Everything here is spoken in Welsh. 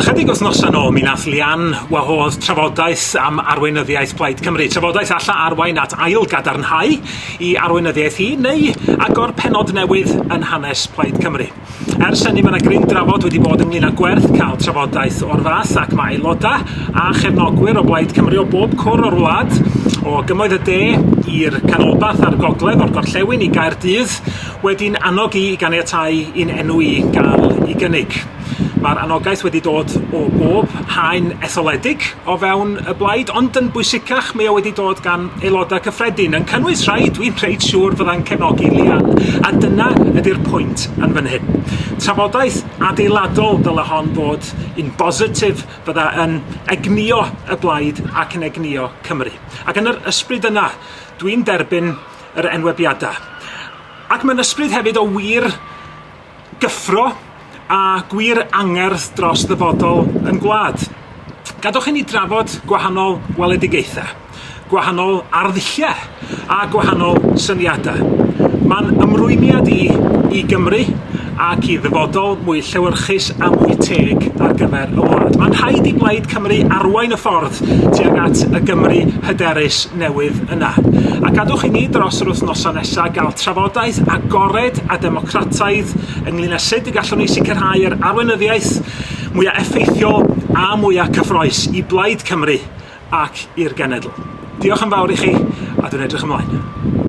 Ychydig wythnosau'n ôl mi nath Leanne wahodd trafodaeth am arweinyddiaeth Plaid Cymru, trafodaeth alla arwain at ail gadarnhau i arweinyddiaeth hi neu agor pennod newydd yn hanes Plaid Cymru. Ers hynny mae 'na gryn drafod wedi bod ynglyn â gwerth cael trafodaeth o'r fath ac mae aelodau a chefnogwyr o Blaid Cymru o bob cwr o'r wlad, o gymoedd y de i'r canolbarth a'r gogledd, o'r gorllewin i Gaerdydd, wedi'n annog i i ganiatáu i'n enw i gael ei gynnig. Mae'r anogaeth wedi dod o bob haen etholedig o fewn y blaid, ond yn bwysicach, mae o wedi dod gan aelodau cyffredin, yn cynnwys rhai dwi'n reit siŵr fydda'n cefnogi Leanne, a dyna ydy'r pwynt yn fan hyn. Trafodaeth adeiladol dyle hon fod, un bositif fydda yn egnïo y blaid ac yn egnïo Cymru. Ac yn yr ysbryd yna, dwi'n derbyn yr enwebiadau. Ac mae'n ysbryd hefyd o wir gyffro a gwir angerdd dros ddyfodol yn gwlad. Gadwch i ni drafod gwahanol weledigaethau, gwahanol arddulliau a gwahanol syniadau. Mae'n ymrwymiad i i Gymru ac i ddyfodol mwy llewyrchus a mwy teg ar gyfer y wlad. Mae'n rhaid i Blaid Cymru arwain y ffordd tuag at y Gymru hyderus newydd yna. A gadwch i ni dros yr wythnosau nesaf gael trafodaeth agored a democratig Crataidd ynglŷn â sut y gallwn ni sicrhau yr arweinyddiaeth mwyaf effeithiol a mwyaf cyffroes i Blaid Cymru ac i'r genedl. Diolch yn fawr i chi a dwi'n edrych ymlaen.